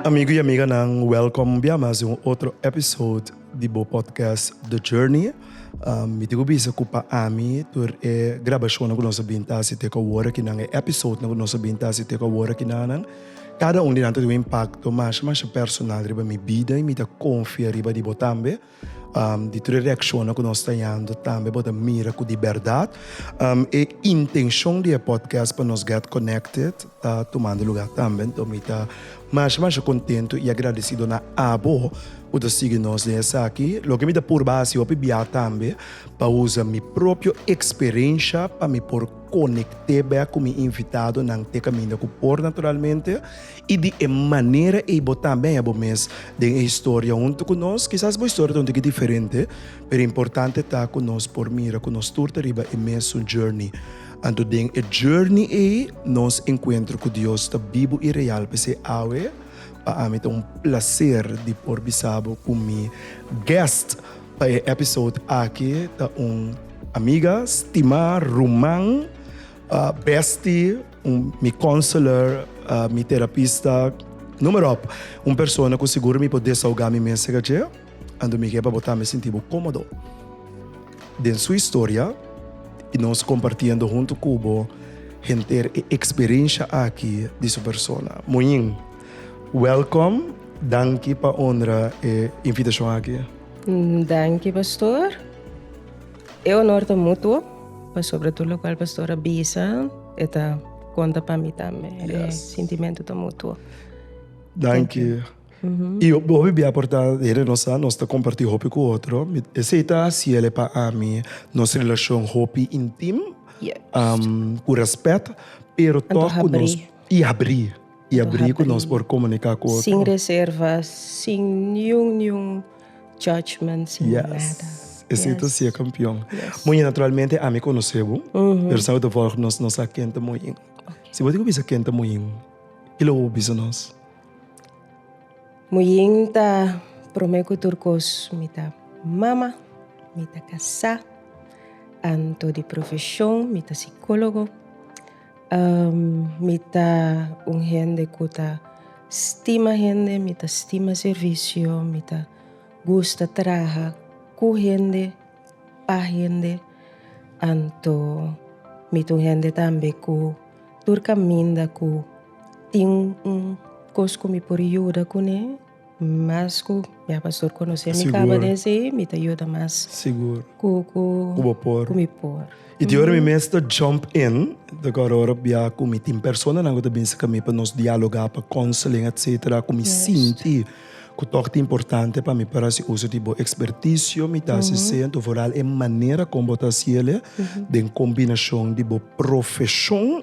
Amigo y amiganan, welcom bia mas den un otro episode di bo podcast The Journey. Mi tin cu bisa cu pa ami tur e grabacionnan cu nos a bin ta haci te cu awor akinan, e episodenan cu nos a bin ta haci te cu awor akinanan, cada un di nan ta tin un impacto masha masha personal riba mi bida y mi ta confia riba di bo tambe. Di tur e reakshonnan ku nos ta yanda tambe bo ta mira ku di bèrdat e intenshon di e pòdkast pa nos gèt konèkted ta tumando lugá tambe. Anto mi ta masha masha kontentu i agradesido na abo ku ta sigui nos den esaki. Loke mi ta purba hasi hopi biaha tambe pa usa mi propio eksperensha pa mi por konekté bèk ku mi invitadonan te kaminda ku por naturalmente I di e manera ei bo tambe a haya bo mes den e historia huntu ku nos. Kisas bo historia ta un tiki diferente, pero importante ta ku nos por mira ku nos tur ta riba e mesun journey. Anto den e journey ei nos enkuentro ku Dios ta bibu i real. P'esei awe pa ami ta un plaser di por bisa bo ku mi guest pa e episode aki ta un amiga, stimá ruman, bestie, Mi counselor, mi terapista, numero op. Un persona cu sigur mi por desahoga mi mes cerca dje, anto mi ke pa bota mi sinti bo comodo. Den su historia y nos compartiendo hunto cu bo henter e experiencia aki di su persona. Moin, welkom, danki pa honra e invitacion aki. Danki, pastor. E honor ta mutuo pasobra tur lokual pastor a bisa e ta konta pa mi tambe. E sintimentu ta mutuo. Danki. I hopi bia por ta hende nos sa nos ta kompartí hopi ku otro. Esei ta hasi el e pa ami nos relashon hopi intim, ku rèspèt, pero tòg ku nos i abrí. I a bri ku nos por komuniká ku otro. Sin reserva, sin niun niun judgement, sin nada. Yes. Esei ta siña kampion. Yes. Moñin, naturalmente ami konosé bo, pero sa bo ta vòrg nos no sa ken ta Moñin. Okay. Si bo tin ku bisa ken ta Moñin, ke lo bo por bisa nos? Moñin ta, promé ku tur kos, mi ta mama, mi ta kasá, anto di profeshon mi ta sikólogo. Mi ta un hende ku ta stima hende, mi ta stima servisio, mi ta gusta traha ku hende, pa hende, anto mi ta un hende tambe ku tur kaminda ku tin un kos ku mi por yuda kuné. Mas ku mi a pastor konosé mi kaba den esei mi ta yuda mas ku mi por. I di ora mi mes ta jump in ta kor ora bia ku mi tin personanan ku ta bin serka mi pa nos dialogá pa counseling etcetera ku mi sinti ku tok ta importante pa mi para hasi uso di bo experticio mi ta hasi esei anto foral e manera kon bo ta hasiel den kombinashon di bo profeshon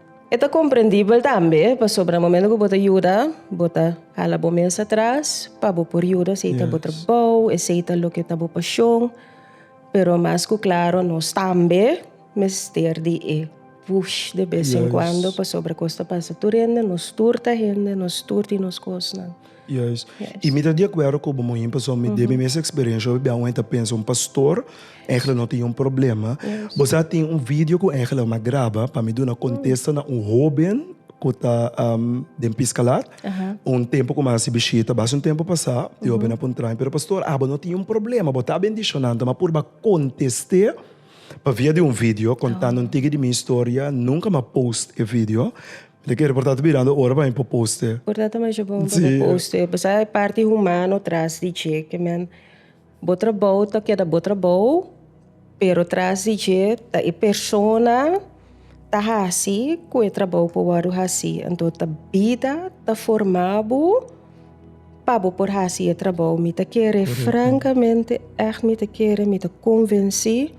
E ta komprendibel tambe pasobra momento ku bo ta yuda bo ta hala bo mes atras pa bo por yuda esei ta bo trabou, esei ta loke ta bo pashon, pero mas ku klaro nos tambe mester di e push de bes en kuando pasobra kos ta pasa tur hende nos tur ta hende nos tur tin nos kosnan. Juis. I mi ta di akuerdo ku bo, mohin pasobra mi debe mes eksperensia hopi biaha un hende ta pensa un pastor engelak no tin un problema. Bo sa tin un video ku engelak mi a graba pa mi duna kontesta na un hoben ku ta den Piskalat un tempu ku mi a hasi bishita basa un tempu pasá. E hobennan a puntra mi, pero pastor abo no tin un problema? Bo ta bendishonan ta mi a puru a kontest'é pa via di un video kontando un tigi di mi historia. Nunka mi a post e video. Di kere por ta ta birando ora pa mi por poste. Por ta ta masha bon pa mi poste pasaki e parti humano tras di dje ke men bo trabou ta keda bo trabou pero tras di dje ta e persona ta hasi ku e trabou por wordu hasi anto ta bida ta forma bo pa bo por hasi e trabou mi ta kere frankamente echt mi ta kere mi ta konvensí.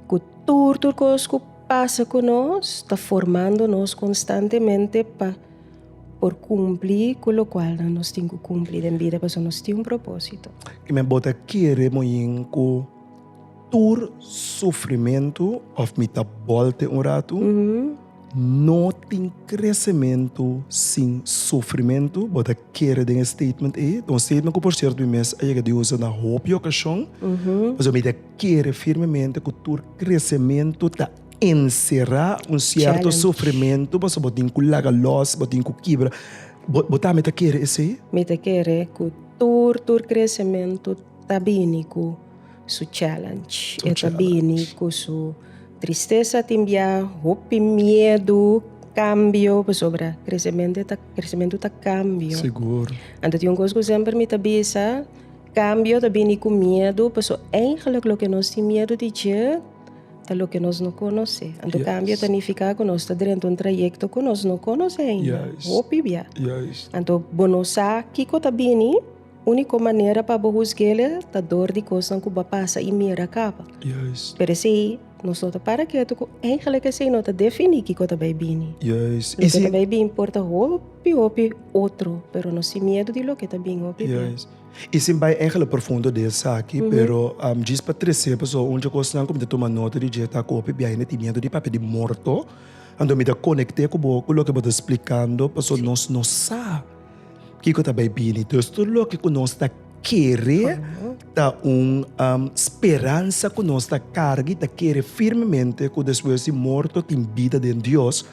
Ku tur tur kos ku pasa ku nos ta formando nos konstantemente pa por kumpli ku lokual nan nos tin ku kumpli den bida pasobra nos tin un propósito. I mi bo ta kere moin ku tur sufrimentu òf mi ta bòlte un ratu? No tin kresementu sin sufrimentu, bo ta kere den e statement ei, ta un statement ku por sierto mi mes a yega di usa na hopi okashon, pasobra mi ta kere firmemente ku tur kresementu ta enserá un sierto sufrimentu pasobra bo tin ku laga lòs, bo tin ku kibra. Bo bo tambe ta kere esei? Mi ta kere ku tur tur kresementu ta bini ku. su challenge. Su E ta challenge. bini ku su tristesa, tin bia hopi miedu, kambio, pasobra kresemente ta, kresementu ta kambio. Sigur. Anto tin un kos ku semper mi ta bisa, kambio ta bini ku miedu, paso eigenlik loke nos tin miedu di dje ta loke nos no konosé. Anto Yes. kambio ta nifiká ku nos ta drenta un trayekto ku nos no konosé ainda, Juist. hopi bia. Juist. Anto, bo no sa kiko ta bini. Úniko manera pa bo husg'el ta dor di kosnan ku bo a pasa i mira kaba. Pero esei nos no ta para ketu ku eigelik esei no ta definí kiko ta bai bini. Loke ta bai bin por ta hopi hopi otro, pero no sin miedu di loke ta bin hopi dia. I sin bai eigelik profundo di esaki, pero djis pa tres'é pasobra un dje kosnan ku mi ta tuma nota di dje ta ku hopi biaha mi tin miedu di papia di morto. Anto mi ta konekté ku bo ku loke bo ta splikando pasobra nos no sa. Kiko ta bai bini? Dus tur loke ku nos ta kere ta un speransa ku nos ta karga i ta kere firmemente ku despues di morto tin bida den Dios,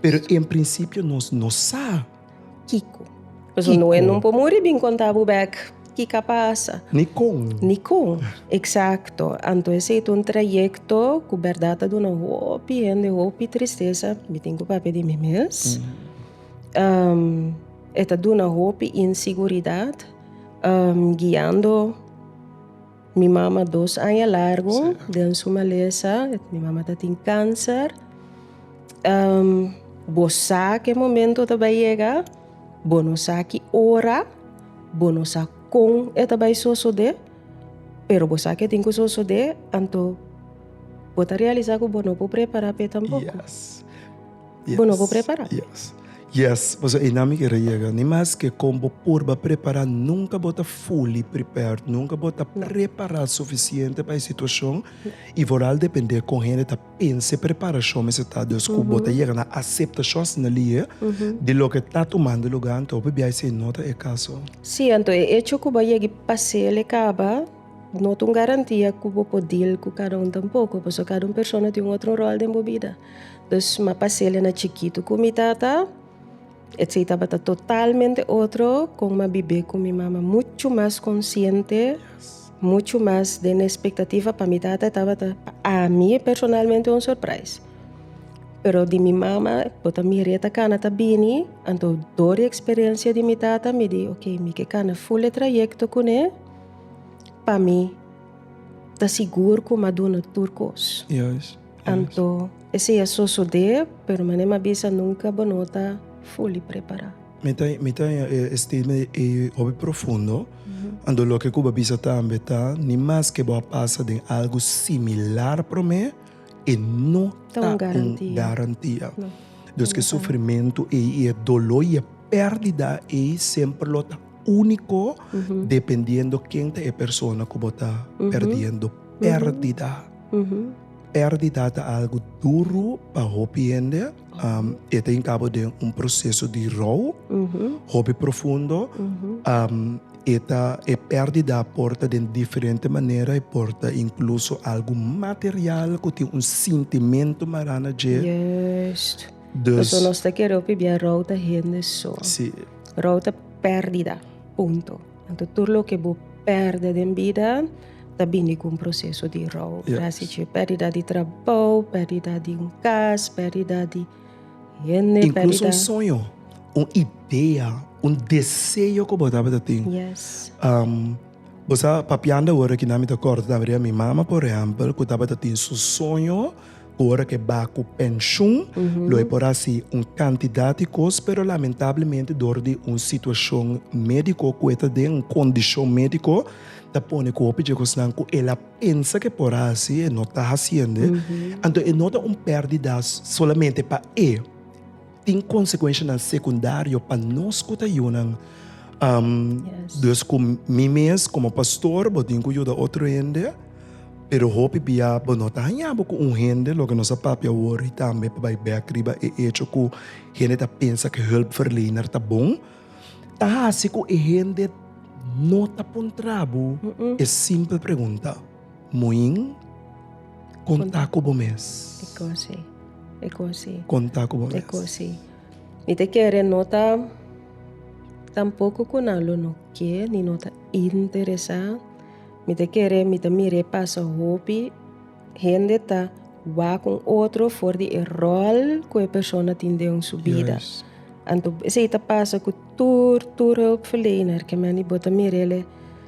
pero en prinsipio nos no sa. Kiko. Pues un noe no por muri bin konta bo bek ki ka pasa. Ni kon. Ni kon. Eksakto. Anto esei ta un trayekto ku bèrdat ta duna hopi hende hopi tristesa. Mi tin ku papia di mi mes. E ta duna hopi inseguridat guiando mi mama dos aña largu den su malesa, mi mama tatin cancer bo sa cu e momento ta bay yega bo no sa ki ora bo no sa con e ta bay sosode pero bo sa ke tin cu sosode anto bo ta realisa cu bo no por prepara pe tampoco. Bo no por prepará. Yes. Yes, paso einan mi kere yega. Ni maske kon bo por ba prepará, nunka bo ta fully prepared, nunka bo ta prepará sufisiente pa e situashon i foral dependé kon hende ta pensa e preparashon mester ta. Dus ku bo ta yega na aseptashon asina lihe di loke ta tumando lugá anto bo p'biai si ei no ta e kaso. Sí, anto e echo ku bo yegi pas'é el e kaba no ta un garantia ku bo por deal ku kada un tampoko, paso kada un persona tin un otro ròl den bo bida. Dus ma pa Celia na chikitu ku mi tata, esei tabata totalmente otro kon ma bib'é ku mi mama. Muchu mas konsiente, muchu mas den e espektativa pa mi tata e tabata pa ami personalmente un surprise. Pero di mi mama bo ta mira i e ta kana ta bini, anto dor di eksperensia di mi tata mi di ok mi ke kana ful e trayekto kuné pa mi ta sigur ku mi a duna tur kos. Anto e si a sosodé, pero manera mi a bisa nunka bo no ta fully prepará. Mi ta mi ta oña e e statement ei hopi profundo, anto loke ku bo a bisa tambe ta, ni maske bo a pasa den algu similar promé, e no Ta ta un un garantia. garantia. No, Dos ke inderdaad. sufrimentu ei i e doló i e pèrdida ei semper lo ta úniko dependiendo ken ta e persona ku bo ta perdiendo, pèrdida. Perdida ta algo duro pa hopi hende, e ta inkabo den un proseso di rou hopi profundo. E ta e perdida a por ta den diferente manera, e por ta inkluso algo material ku tin un sintimentu mará na dje. Pasobra nos ta kere hopi bia rou ta hende so. Rou ta perdida, punto. Anto tur loke bo pèrdè den bida ta bini ku un proseso di rou. Trasi dje pèrdida di trabou, pèrdida di un kas, pèrdida di hende, pèrdida. Inkluso un soño, un idea, un deseo ku bo tabata tin. Bo sa, papiando awor aki nan mi ta kòrda tabata di mi mama, por ehèmpel, ku tabata tin su soño. Cu ora ke ba cu pensioen, lo e por haci un cantidad di cos, pero lamentablemente door di un situacion medico cu e ta den un condicion medico, ta pone cu hopi dje cosnan cu el a pensa ke por haci, e no ta haciende. Anto e no ta un perdidas solamente pa e. tin konsekuenshanan sekundario pa nos ku ta yunan. Dus ku mi mes komo pastor bo tin ku yuda otro hende, pero hopi bia bo no ta haña bo ku un hende, loke nos a papia awor i tambe pa bai bèk riba e echo ku hende ta pensa ku hulpverlener ta bon, ta hasi ku e hende no ta puntra bo e simpel pregunta. Muin, konta ku bo mes. E kon si. E kon si. Konta ku bo mes. E kon si. Mi ta kere no ta tampoco ku nan lo no ke ni no ta interesá. Mi ta kere mi ta mir'é pasa hopi hende ta wak un otro for di e ròl ku e persona tin den su bida. Anto esei ta pasa ku tur tur hulpverlener ke men di bo ta mir'el'e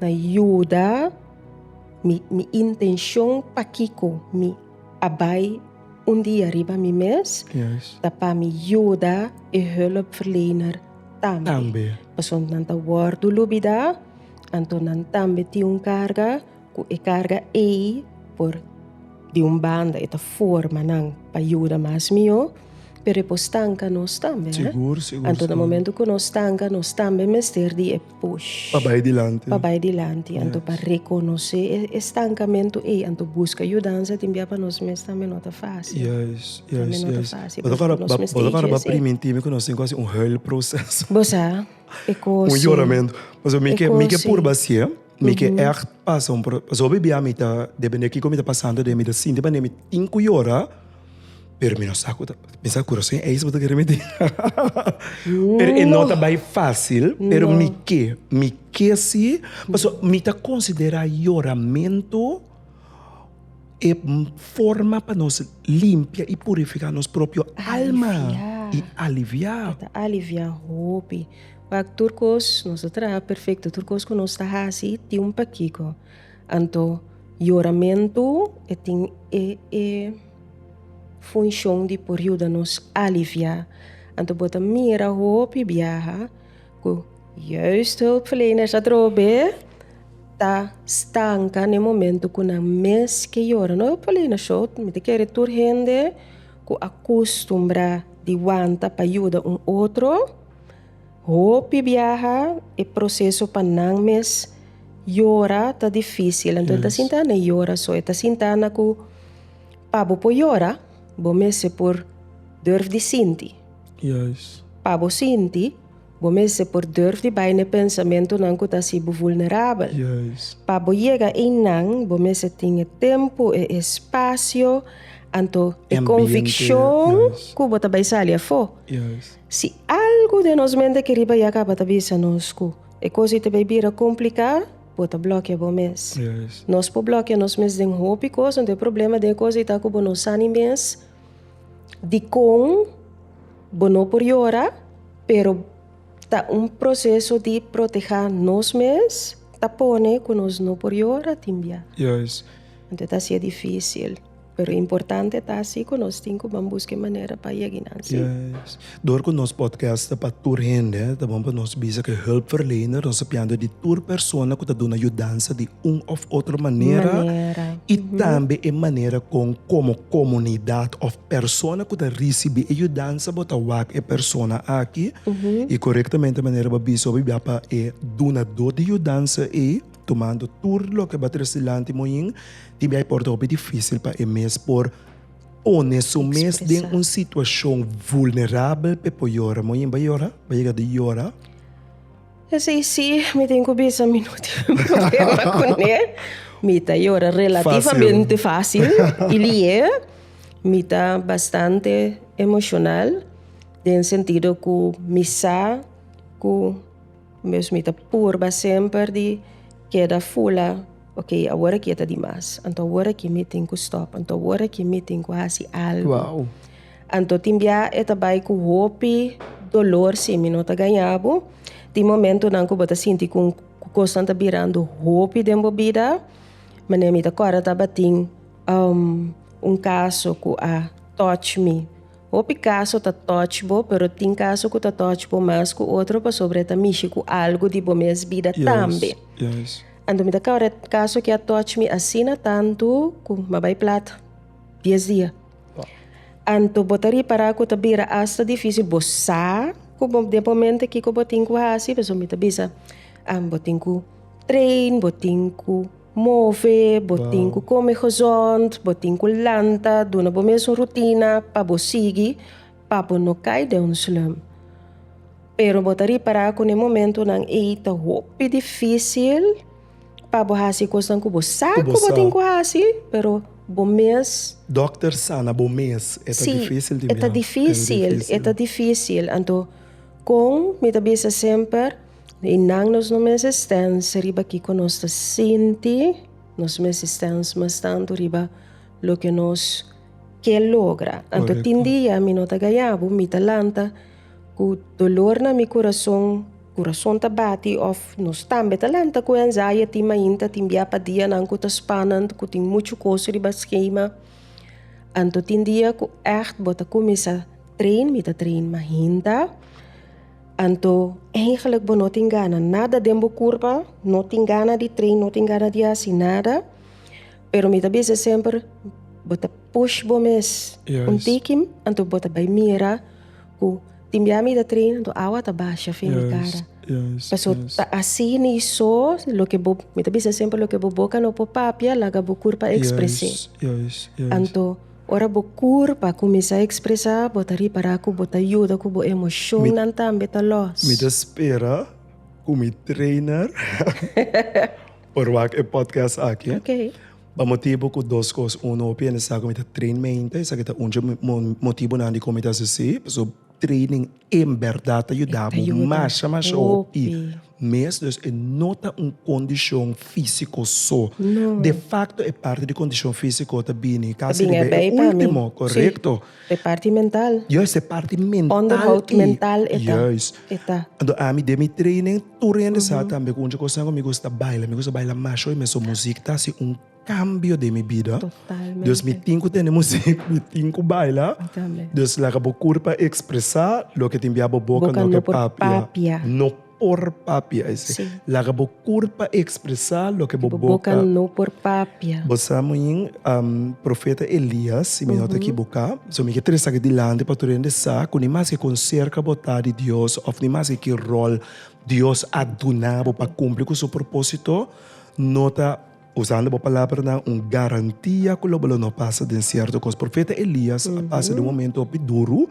Na yuda mi intenshon pakiko mi a bai un dia riba mi mes ta pa mi yuda e hulpverlener tambe. Pasobra nan ta wòrdu dulubidá, anto nan tambe tin un karga ku e karga ei por di un banda e ta forma nan pa yuda mas mihó, pero e por stanka nos tambe. Anto na momentu ku nos stanka nos tambe mester di e. push. Pa bai dilanti. Pa bai dilanti. Anto yes. pa reconose e, e stancamento ei. Anto busca yudanza tin bia pa nos mes tambe no ta fácil. Yes, yes, tambe no yes. ta fácil. Bota para, ba, bota para ba priminti mi que nos quase un hell processo. Bosa, e cosi. Un lloramento. Mas mi que, mi que purba si, eh? Mi que echt passa un pro... Zo bibia mi ta, depende kiko mi ta passando de mi ta sinti pa mi tin ku llora. Pero mi no sa ku ta pensa ku rosén eis bo ta kere mete. Pero e no ta bai fásil, pero mi ke, mi ke sí, pasobra mi ta konsiderá yoramentu e forma pa nos limpia i purifiká nos propio alma i aliviá. Ta aliviá hopi. Wak tur kos nos ta traha perfekto, tur kos ku nos ta hasi tin un pakiko. Anto, yoramentu e tin e e funshon di por yuda nos aliviá. Anto bo ta mira hopi biaha ku Jeugdhulpverleners atrobe ta stanka na e momentu ku nan mes ke yora. No hulpverlener sho, mi ta kere tur hende ku a kustumbrá di wanta pa yuda un otro. Hopi biaha e proseso pa nan mes yora ta difícil anto ta sinta nan e yora so e ta sinta nan ku pa bo por yora bo mester por durf di sinti pa bo sinti bo mester por durf di bai na e pensamentunan ku ta hasi bo vulnerabel pa bo yega ei nan bo mester tin e tempu e espacio anto e konvikshon ku bo ta bai sali afó. Si algu den nos mente aki riba ya kaba ta bisa nos ku e kos ei ta bai bira kompliká, bo ta blòkia bo mes. Nos por blòkia nos mes den hopi kos, anto e problema den e kos ei ta ku bo no sa ni mes dikon bo no por yora, pero ta un proseso di protehá nos mes ta pone ku nos no por yora tin bia. Anto e ta hasié difísil. Pero importante ta si ku nos tin ku ban buska e manera pa yega nan si. Yes. Dor ku nos podcast ta pa tur hende, ta bon pa nos bisa ku e hulpverlener ta sapiando di tur persona ku ta duna yudansa di un òf otro manera i tambe e manera kon komo komunidat òf persona ku ta risibí e yudansa bo ta wak e persona aki i korektamente manera bo a bisa bo a bia pa e dunadó di yudansa ei. tumando tur loke ba trece dilanti moin, tin bia e por ta hopi difícil pa e mes por pone su mes den un situacion vulnerabel pe por yora. Moin ba yora, ba yega di yora. Esei si, mi tin ku bisa mi no tin problema kuné. Mi ta yora relativamente fácil i lié. Mi ta bastante emocional den sentido ku mi sa ku. Mes mi ta purba semper di keda fula, ok, awor aki e ta di mas, anto awor aki mi tin ku stòp, anto awor aki mi tin ku hasi algu. Anto tin bia e ta bai ku hopi dolor si mi no ta gaña bo, tin momentunan ku bo ta sinti ku kosnan ta birando hopi den bo bida, manera mi ta kòrda tabatin un kaso ku a touch mi. Hopi caso ta touch bo, pero tin caso cu ta touch bo mas cu otro pasobra e ta mishi cu algo di bo mes bida tambe. Anto mi ta caba den caso que a touch mi asina tanto cu mi a bay plat dies dia. Anto bo ta ripara cu ta bira hasta dificil bo sa cu bo den momento kico bo tin cu haci pasobra mi ta bisa bo tin cu train bo tin cu. Move, bo tin ku kome hòzònt, bo tin ku lanta, duna bo mes un rutina pa bo sigui pa bo no kai den un slump. Pero bo ta ripará ku n'e momentunan ei ta hopi difísil pa bo hasi kosnan ku bo sa ku bo tin ku hasi, pero bo mes. Dòkter sa na bo mes, e ta difísil di mira. Sí, e ta difísil, e ta difísil. Anto kon mi ta bisa semper? I nan nos no mes estens riba kiko nos ta sinti, nos mes estens mas tantu riba loke nos ke logra. Anto tin dia mi no ta gayabu, mi ta lanta ku dolor na mi kurason, kurason ta bati òf nos tambe ta lanta ku anzaya tin mainta, tin bia pa dianan ku ta spanend, ku tin muchu kos riba skema. Anto tin dia ku ègt bo ta kuminsá train, mi ta train mainta. Anto, eigenlijk bo no tin gana nada den bo kurpa, no tin gana di train, no tin gana di hasi nada. Pero mi ta bisa semper, bo ta push bo mes un Yes. tikim, anto bo ta bai mira ku tin bia mi ta train, anto awa ta basha fin mi kara. Yes, Paso yes. ta asina i so, loke bo, mi ta bisa semper loke bo boka no por papia, laga bo kurpa ekspres'é. Yes, yes, yes. Anto. Ora bo kur pa kuminsá ekspresá, bo ta ripará ku bo ta yuda ku bo emoshonnan tambe ta lòs. Mi ta spera ku mi trainer por wak e podcast aki. Pa motibu ku dos kos. Uno, hopi hende sa ku mi ta train mente, esaki ta un dje motibunan dikon mi ta hasi así. Training en berdad ta yudabu masha masha hopi mes, dus e no ta un kondishon fisiko so. De fakto e parti di kondishon fisiko ta bini kasi riba e ultimo, korekto. E parti mental. Juis, e parti mental. Onderhoud mental e ta. Juis. Anto ami den mi training tur hende sa tambe ku un dje kos nan ku mi gusta baila, mi gusta baila masha hopi mes so muzik ta hasi un. Cambio den mi bida. Totalmente. Dus mi tin cu tene music, mi tin cu baila. Mi tambe. Dus laga bo curpa expresa loke tin bia bo boca, Boca no no por por papia. papia. No por papia, e si. Sí. Laga bo curpa expresa loke bo Bo boca. boca no por papia. Bo sa muin, am, Profeta Elias, si mi no ta ekiboká, so mi ke tresa aki dilanti pa tur hende sa ku ni maske kon serka bo ta di Dios òf ni maske ki ròl Dios a duna bo pa kumpli ku su propósito, no ta Usando bo palabranan un garantia ku lo bo lo no pasa den sierto kos. Profeta Elias a pasa den un momentu hopi duru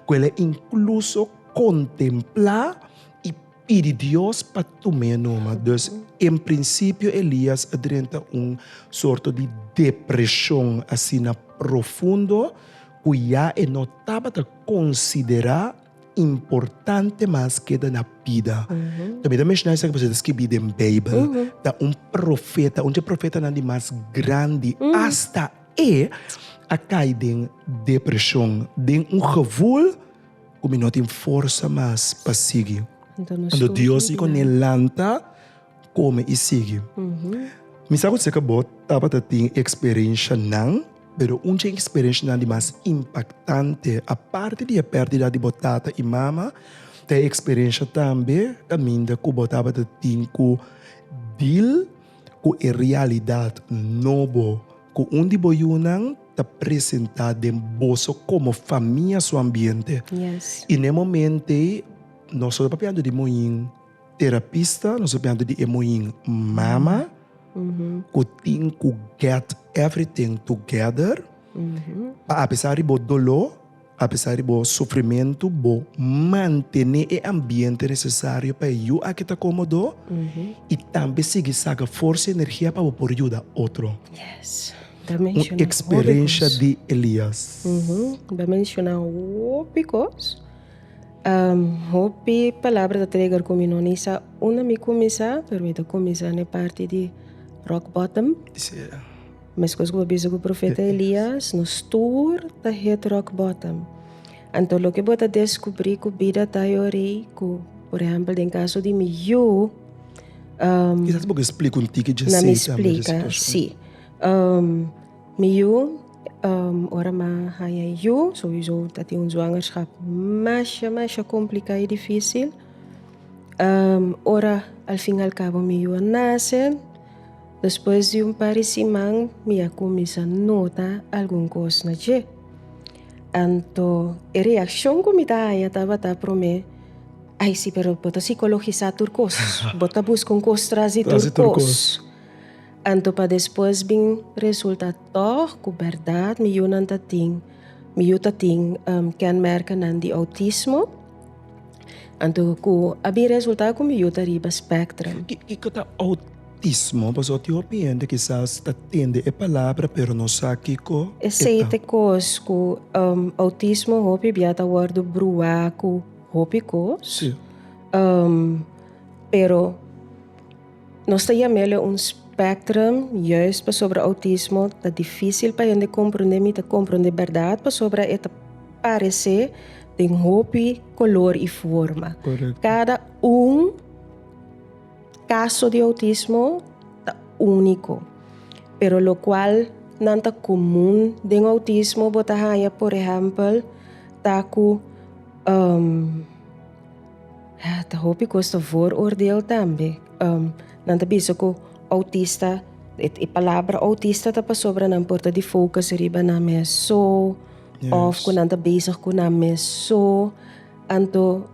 ku el a inkluso kontemplá i pidi Dios pa tuma e numa. Dus en prinsipio Elias a drenta un sorto di depreshon asina profundo ku ya e no tabata konsiderá. Importante mas keda na bida. Ta mira menshoná esaki pasobra ta skirbí den Beibel. Ta un profeta, un dje profetanan di mas grandi. Asta e a kai den depreshon, den un gevol ku mi no tin forsa mas pa sigui. Anto Dios i kone lanta. Kome i sigui. Mi sa ku seka bo tabata tin e eksperenshanan, pero un di e eksperenshanan di mas impaktante, aparte di e pèrdida di bo tata i mama, ta e eksperensha tambe kaminda ku bo tabata tin ku dil ku e realidat nobo ku un di bo yunan ta presentá den boso komo famia su ambiente. I na e momente ei no solo papia anto di moñin. Terapista, nos a biantu di e muhin mama ku tin ku get everything together pa apesar di bo doló, apesar di bo sufrimentu bo mantené e ambiente nesesario pa e yu a ke ta komodo i tambe sigui saca forsa i energia pa bo por yuda otro. Un eksperensha di Elias. Bo a menshona hopi kos. Hopi palabra ta treger cu mi no ni sa unda mi cuminsa pero mi ta cuminsa ne parti di rock bottom mescos cu bo bisa cu profeta Elias nos tur ta hit rock bottom anto loke bo ta descubri cu bida ta ayori cu por ejemplo den caso di mi yu na mi splica si. Mi yu, ora mi a haña e yu, sowiso ta tin un zwangerschap masha masha kompliká i difísil. Ora al fin al kabo mi yu a nase, despues di un par di siman mi a kuminsá nota algun kos na dje. Anto e reakshon ku mi ta haña tabata promé, ai si pero bo ta sikologisá tur kos, bo ta buska un kos tras di tur kos. Anto pa despues bin resulta tòg ku bèrdat mi yunan ta tin mi yu ta tin kènmèrkanan di outismo? Anto ku a bin resulta ku mi yu ta riba spèktrum? Kiko ta outismo? Pasobra tin hopi hende kisas ta tende e palabra pero no sa kiko e ta. Esei ta kos ku outismo hopi bia ta wòrdu bruhá ku hopi kos pero. Nos ta yama el un spectrum, juist pasobra autismo ta difícil pa hende comprende, mi ta comprende berdad pasobra e ta parece den hopi color y forma. Correcto. Cada un caso di autismo ta unico, pero locual nan ta comun den autismo bo ta haya por ejemplo ta cu. Ta hopi kos ta vooroordeel tambe. Nan ta bisa ku outista, e palabra outista ta pasobra nan por ta di focus riba nan mes so òf ku nan ta bezig ku nan mes so. Anto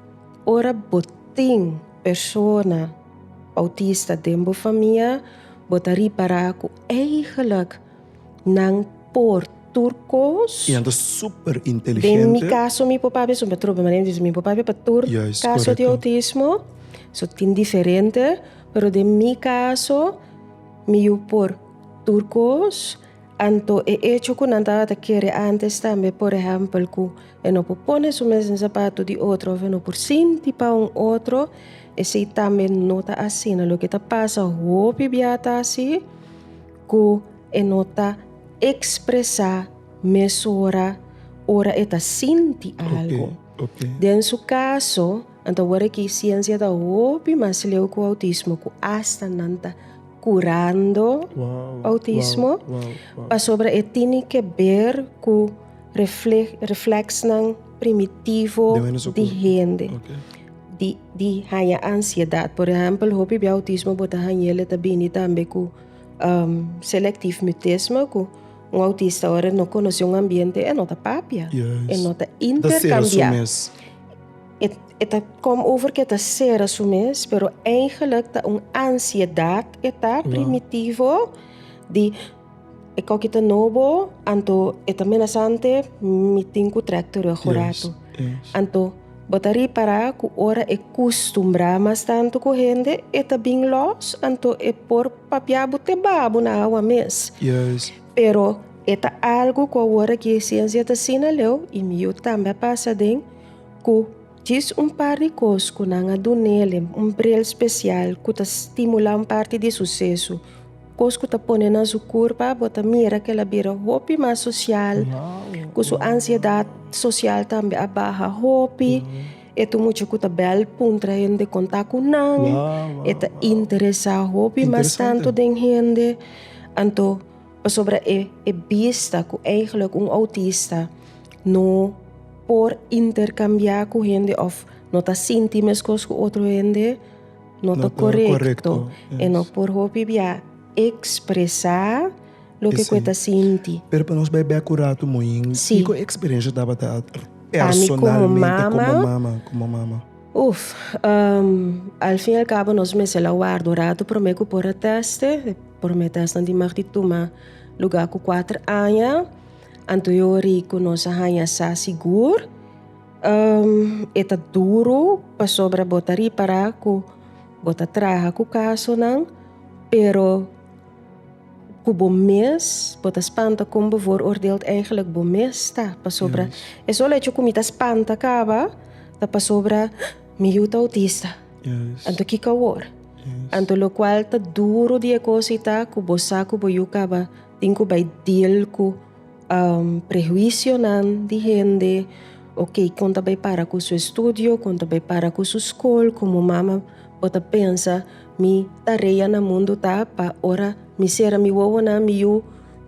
ora bo tin persona outista den bo famia bo ta ripará ku eigelik. nan por tur kos. I nan ta super inteligente. Den mi kaso mi papá beso pa trobe manera di mi papá pa tur kaso di autismo so tin diferente pero den mi kaso mi yu por tur kos anto e echo ku nan tabata kere antes tambe por ehèmpel ku e no por pone su mes den zapato di otro òf e no por sinti pa un otro esei tambe no ta asina loke ta pasa hopi bia ta asi. Ku e no ta ekspresá mesora ora e ta sinti algu. Den su kaso, nan ta wòrdu ki siensia ta hopi mas leu ku outismo, ku asta nan ta kurando outismo, pasobra e tini ke ber ku refleksnan primitivo di hende, di haña ansiedat. Por ehèmpel, hopi bia outismo bo ta hañel e ta bini tambe ku. Um, selectief mutismo cu un autista ora no conoce un ambiente, e no ta papia, yes. e no ta intercambia. E, e ta kom over que ta cera su mes, pero eigenlijk ta un ansiedad e ta primitivo di e kokita nobo, anto e ta menasante, mi tin ku trek terug yes. Anto, bo ta ripará ku ora e kustumbrá mas tantu ku hende, e ta bin lòs, anto e por papia bo te babu na awa mes. Pero e ta algu ku awor aki e siensia ta sina leu, i mi yu tambe a pasa den, ku djis un par di kos ku nan a dun'é, un brel spesial ku ta stimulá un parti di suseso. Kos ku ta pone na su kurpa, bo ta mira ku el a bira hopi mas sosial, ku su ansiedat sosial tambe a baha hopi, e ta un mucha ku ta bèl puntra hende, konta ku nan, e ta interesá hopi mas tantu den hende. Anto pasobra e e bista ku eigelik un outista no por interkambiá ku hende òf no ta sinti meskos ku otro hende, No ta korekto i no por hopi bia ekspresá loke ku e ta sinti. Pero pa nos bai bèk ku Ratu Moin, kiko eksperensia tabata personalmente komo mama? Uf, al fin al kabo nos mester la warda un ratu promé ku por a tèst'e. E promé tèstnan tin mag di tuma lugá ku kuater aña. Anto e ora ei ku nos a haña sa sigur. E ta duru pasobra bo ta ripará ku bo ta traha ku kasonan, pero ku bo mes, bo ta spanta kon bo vooroordeeld eigenlijk bo mes ta. Pasobra e solo hecho ku mi ta spanta kaba ta pasobra mi yu ta outista, anto kiko awor? Anto lokual ta duru di e kos ei ta ku bo sa ku bo yu kaba tin ku bai deal ku. prehuisionan di hende o kei kon ta bay para ku su estudio, kon ta bay para ku su skol, komo mama bo ta pensa mi ta reia na mundu ta pa ora mi sera mi wowonan mi yu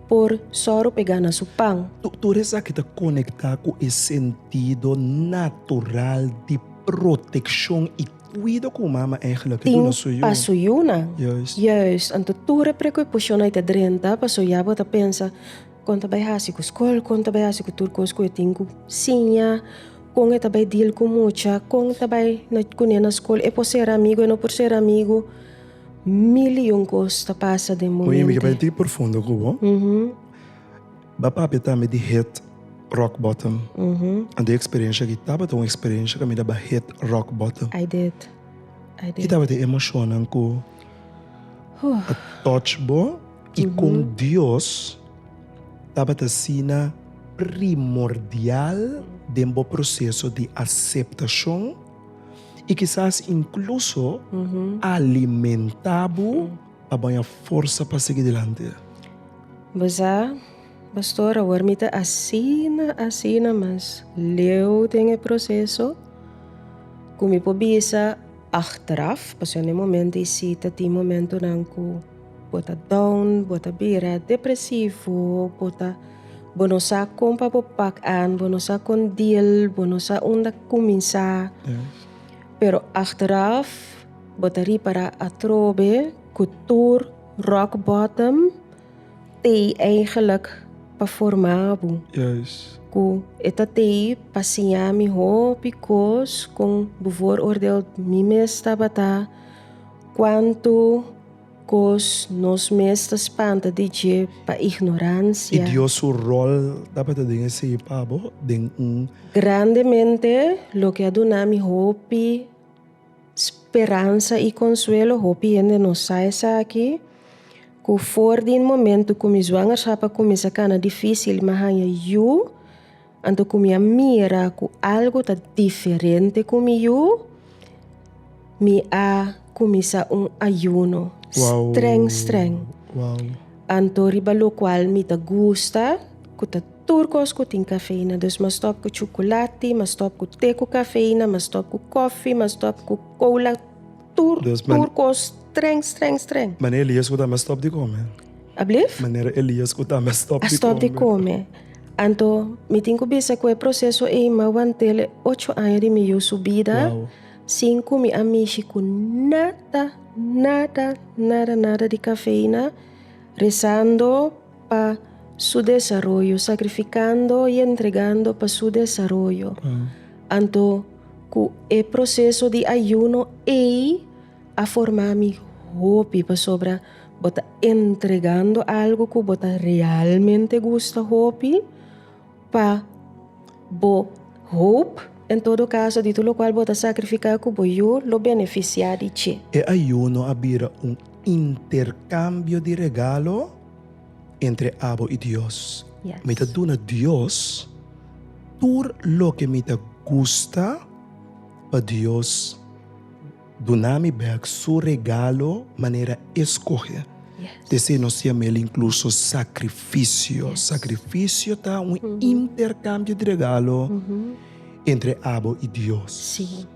por sòru p'e gana su pan. Tur esaki ta konektá ku e sentido natural di protekshon i tin pa su yunan. Juis, anto tur e preocupacionnan ei ta drenta, pasobra ya bo ta pensa, Con ta bay haci cu scol? Con ta bay haci cu tur cos cu e tin cu siña? Con e ta bay deal cu mucha? Con ta bay cune na scol? E por ser amigo? E no por ser amigo? Mil y un cos ta pasa den bo mente. Ba papia tambe di hit rock bottom. Ant di e eksperensia aki tabata un eksperensia ku mi daba hit rock bottom. Ki tabata e emoshonnan ku a touch bo i kon Dios tabata asina primordial den bo proseso di aseptashon i kisas inkluso alimentá bo? A baña forsa pa sigui dilanti. Bo sa, Pastor, awor mi ta asina, asina, mas leu den e proseso cu mi por bisa achteraf, pasobra na e momento y si ta tin momentonan cu bo ta down, bo ta bira depresivo, bo ta, bo no sa con pa bo pak an, bo no sa con deal, bo no sa unda cuminsa, pero achteraf. Bo ta ripará atrobe ku tur rock bottom tei eigelik pa forma bo. Ku e ta tei pa siña mi hopi kos kon bo vooroordeel mi mes tabata kuantu kos nos mes ta spanta di dje pa ignoransia. I Dios su rol tabata den esei pa bo den un. Grandemente loke a duna mi hopi. Speransa i konsuelo, hopi hende no sa esaki, ku for di un momentu ku mi zwangerschap a kuminsá kana difísil, mi a haña yu, anto ku mi a mira ku algu ta diferente ku mi yu, mi a kuminsá un ayuno strèng strèng, anto riba lokual mi ta gusta ku ta. Tur kos ku tin kafeina. Dus mas stòp ku chukulati, mas stòp ku te ku kafeina, mas stòp ku kòfi, mas stòp ku kola, tur tur kos strèng strèng strèng. Manera Elias ku ta mas stòp di kome. Ablief? Manera Elias ku ta mas stòp di kome. A stòp di kome. Anto mi tin ku bisa ku e proseso ei mi a wantel e ocho aña di mi yu su bida sin ku mi a mishi ku nada nada nada nada di kafeina, resando. Pa Su desaroyo, sakrifikando i entregando pa Su desaroyo. Anto ku e proseso di ayuno ei a forma mi hopi pasobra bo ta entregando algu ku bo ta realmente gusta hopi. pa bo hoop, en todo caso di tur locual bo ta sacrifica cu bo yu lo beneficia di dje. E ayuno a bira un intercambio di regalo entre abo y Dios. Mi ta duna Dios tur loke mi ta gusta pa Dios. Duna mi bèk su regalo manera eskohe. T'esei nos siembra el inkluso sakrifisio. Sakrifisio ta un interkambio di regalo entre abo i Dios. Sí.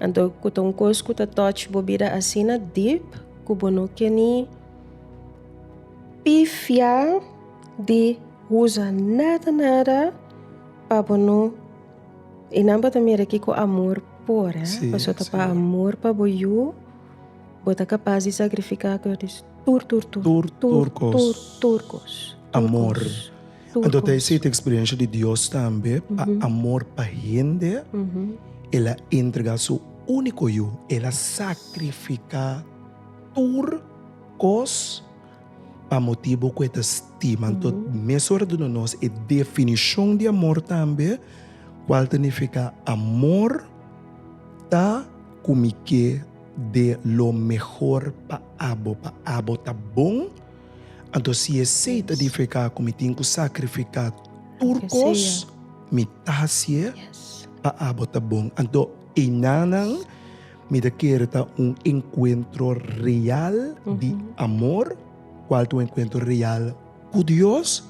Anto ku ta un kos ku ta touch bo bida asina dip ku bo no ke ni pifia di usa nada nada pa bo no. E nan bo ta mira aki ku amor por, eh. Sí, Paso ta sí. pa amor pa bo yu, bo ta kapas di sakrifiká ku yo dis tur tur tur. Tur, tur kos. Tur, tur kos. Tur Amor. kos. Tur Anto ta kos. esei ta eksperensha di Dios tambe, pa Mhm. amor pa hende, Mhm. el a entregá su úniko Yu, el a sakrifiká tur kos. Pa motibu ku e ta stiman tot mes ora duna nos e definishon di amor tambe, kual ta nifiká amor ta ku mi ke de lo mehor pa abo, pa abo ta bon. Anto si esei ta nifiká ku mi tin ku sakrifiká tur kos, mi ta hasié pa abo ta bon. Anto, einan nan. Mi ta kere ta un enkuentro real di amor, kual ta un enkuentro real ku Dios,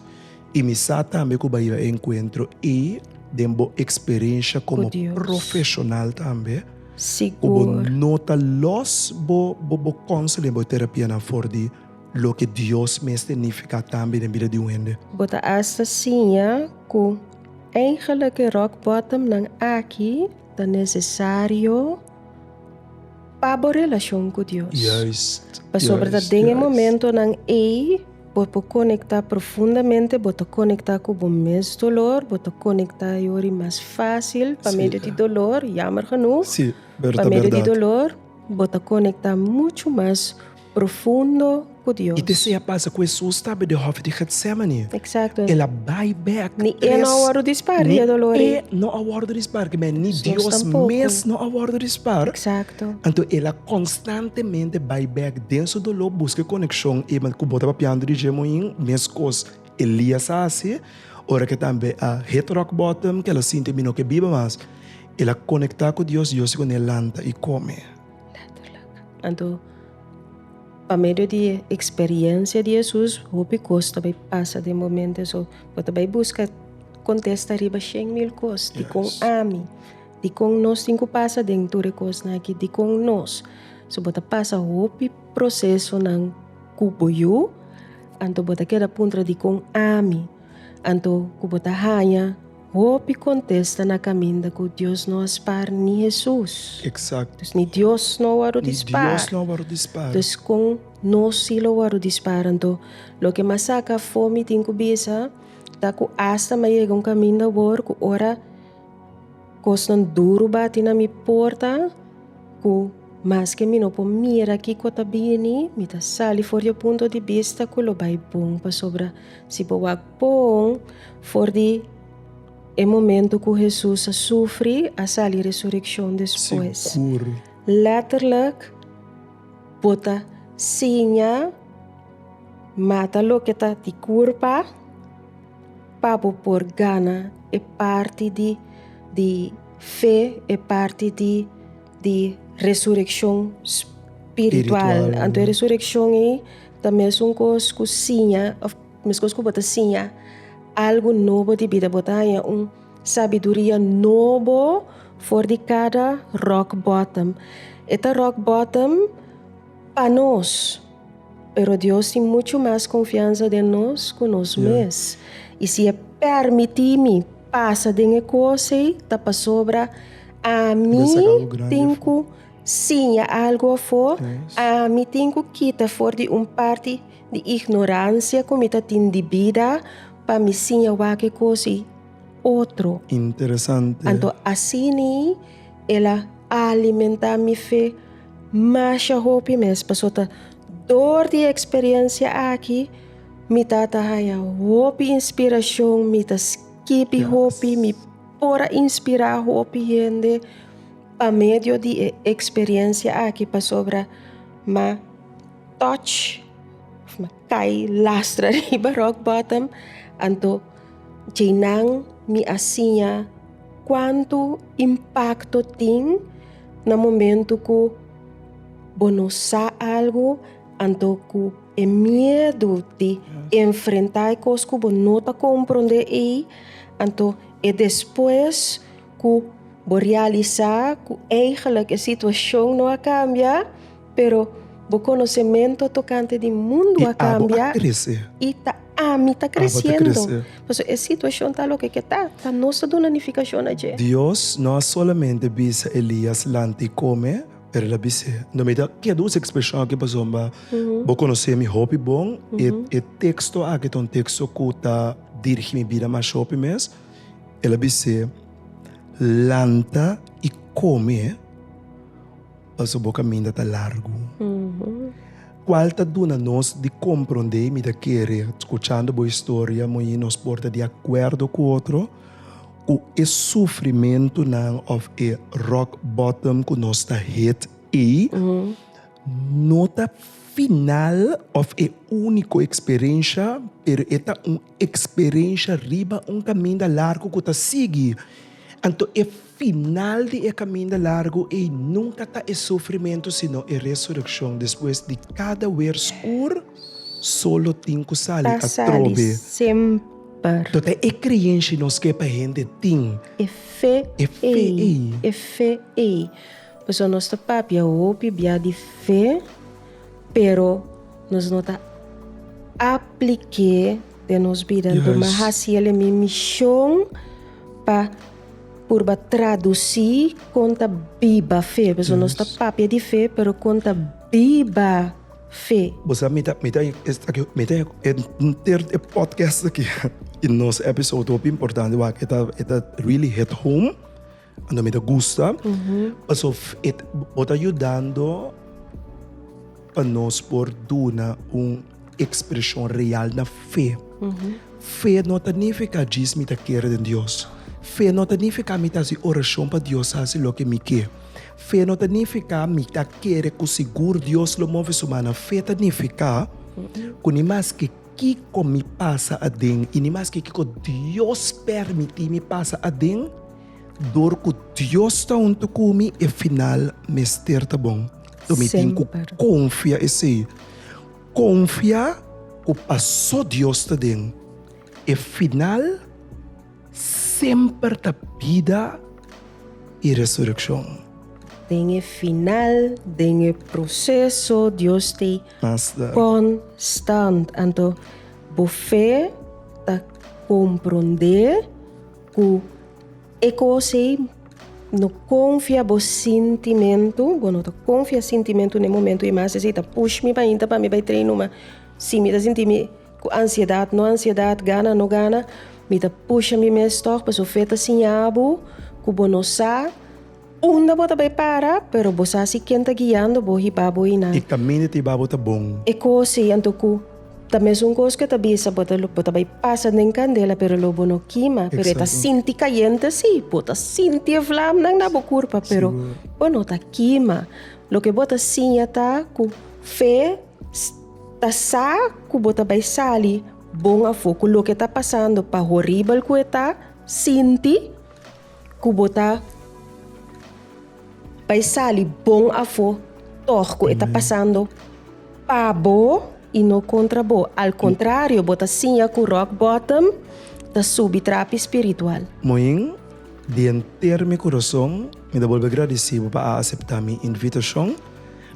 i mi sa tambe ku bai e enkuentro ei den bo eksperensha komo profeshonal tambe, ku bo no ta lòs bo bo kounselen, bo terapianan for di loke Dios mes ta nifiká tambe den bida di un hende. Bo ta asta siña ku, Eigelik e rock bottom nan aki. Ta nesesario pa bo relashon ku Dios. Pasobra ta den e momentonan ei bo por konektá profundamente, bo ta konektá ku bo mes dolor, bo ta konektá yori mas fásil pa medio di dolor, yammer genoeg, pa medio di dolor bo ta konektá muchu mas profundo ku Dios. I te sea pasa ku Hesus tabatin di hòf di Getsemane, el a bai bèk tres. Ni e no a wòrdu dispar di e dolor ei. Ni e no a wòrdu dispar kimin ei, ni Dios mes no a wòrdu dispar. Anto el a konstantemente bai bèk den su dolor buska e konekshon ei. Ma ku bo ta papiando di dje muin, meskos Elias a hasi, ora ke tambe a hit rock bottom, ke el a sinti mi no ke biba mas, el a konektá ku Dios, Dios di ku n'el lanta i kome. Anto, pa medio di e eksperiencia di Hesus hopi kos ta bai pasa den momento eso. Bo ta bai buska kontesta riba shen mil kos, dikon ami, dikon nos tin ku pasa den tur e kosnan aki, dikon nos. So bo ta pasa hopi prosesonan ku bo yu, anto bo ta keda puntra dikon ami. Anto ku bo ta haña hopi kontesta na kaminda ku Dios no a spar ni Hesus? Eksakto. Dus ni Dios no a wòrdu di spar. Ni Dios no a wòrdu di spar. Dus kon nos si lo wòrdu di spar? Anto, loke mas saka afó mi tin ku bisa ta ku asta m'a yega un kaminda wòr ku ora. Kosnan duru bati na mi porta ku maske mi no por mira kiko ta bini, mi ta sali for di e punto di bista ku lo bai bon, pasobra si bo wak pon for di e momentu ku Hesus a sufri, a sali resurekshon despues. Lètterlik, bo ta siña mata loke ta di kurpa. Pa bo por gana e parti di di fe, e parti di di resurekshon spiritual. Anto e resurekshon ei ta mesun kos ku siña òf meskos ku bo ta siña algu nobo di bida. Bo ta haña un sabiduria nobo for di kada rock bottom. E ta rock bottom pa nos. Pero Dios tin muchu mas konfiansa den nos ku nos mes. I si e pèrmití mi pasa den e kos ei, ta pasobra ami tin ku siña algu afó, ami tin ku kita for di un parti di ignoransia ku mi ta tin di bida pa mi siña wak e kos ei otro. Anto asina el a alimentá mi fe. Masha hopi mes, pasobra dor di e eksperensia aki mi ta ta haña hopi inspirashon, mi ta skibi hopi, mi por a inspirá hopi hende pa medio di e eksperensia aki pasobra m'a touch of m'a kai lastra riba rock bottom anto. Djeinan mi a siña kuantu impakto tin na momentu ku bo no sa algu anto ku e miedu di enfrentá e kos ku bo no ta komprondé ei, anto e despues ku bo realisá ku eigelik e situashon no a kambia. Pero bo konosementu tokante di mundu a kambia, i ta ami ta kresiendo. Pasobra e situashon ta loke ke ta, ta nos ta duna nifikashon na dje. Dios no a solamente bisa Elias lanta i kome, pero el a bis'é, Unda mi ta keda? Usa e ekspreshon akí pasobra bo konos'é mi hopi bon. E e teksto akí ta un teksto ku ta dirigí mi bida masha hopi mes. El a bis'é, Lanta i kome. Paso bo caminda ta largu. Cual ta duna nos di compronde mi ta kere, scuchando bo historia, moin nos por ta di acuerdo cu otro cu e sufrimentonan of e rock bottom cu nos ta hit ey no ta final of e unico experiencia, pero e ta un Eksperensha riba un kaminda largu ku ta sigui, anto e final di e kaminda largu ei nunka ta e sufrimentu sino e resurekshon. Despues di kada wer skur, sol lo tin ku sali atrobe. Tota e kreyensha i nos ke pa hende tin e fe ei. Pasobra nos ta papia hopi bia di fe. Pero nos no ta apliké den nos bida. Yes. Duma hasi el e mi mishon pa purba tradusí kon ta biba fe. Paso nos ta Yes. papia di fe, pero kon ta biba fe. Bo sa mi ta mi ta es aki mi ta enter e podcast aki i nos episode hopi importante wak e ta e ta really hit home. Anto mi ta gusta, pasof e ta, bo ta yudando pa nos por duna un ekspreshon real na fe. Fe no ta nifiká djis mi ta kere den Dios. Fe no ta nifiká mi ta hasi orashon pa Dios hasi loke mi ke. Fe no ta nifiká mi ta kere ku sigur Dios lo move su man. Fe ta nifiká ku ni maske kiko mi pasa aden i ni maske kiko Dios pèrmití mi pasa aden, Dor ku Dios ta huntu ku mi, e final mester ta bon. So mi tin ku konfia esei. Konfia ku paso Dios ta den, e final semper ta bida i resurekshon. Den e final, den e proseso, Dios ta konstant. Anto bo fe ta komprondé Ku e kos ei no konfia bo sintimentu, bo no ta konfia sintimentu na e momentu ei mas, esei ta push mi pahinta pa mi bai trei numa. Si mi ta sinti mi ku ansiedat, no ansiedat, gana, no gana, mi ta pusha mi mes tòg. Pasobra fe ta siña bo ku bo no sa. Unda bo ta bai para? Pero bo sa si ken ta guiando bo, hiba bo inan. E kaminda ta hiba bo ta bon. E kos ei anto ku ta mesun kos ku e ta bisa bo, bo ta bai pasa den kandela pero lo bo no kima. Pero e ta sinti kayente si, bo ta sinti e vlamnan na bo kurpa pero bo no ta kima. Loke bo ta siña ta ku fe ta sa ku bo ta bai sali bon afó ku loke ta pasando pa horibel ku e ta sinti. ku bo ta bai sali bon afó tòg ku e ta pasando pa bo i no kontra bo. Al kontrario, bo ta siña ku rock bottom ta subi trapi spiritual. Moin, Di henter mi kurason mi ta bolbe gradisí bo pa a aseptá mi invitashon.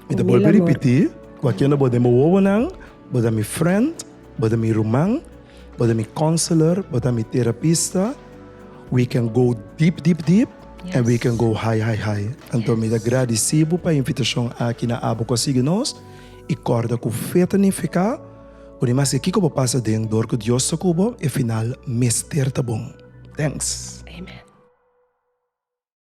Mi ta bolbe ripití ku a kende bo den bo wowonan, bo ta mi frènt. Bo ta mi ruman, bo ta mi counselor, bo ta mi terapista. We can go deep, deep, deep and we can go high, high, high. Anto mi ta gradici bo pa invitacion aki na Abo cu a Sigui Nos y corda cu fe ta nifica cu di mas ke kico bo pasa den dor cu Dios ta cu bo e final mester ta bon. Thanks! Amen.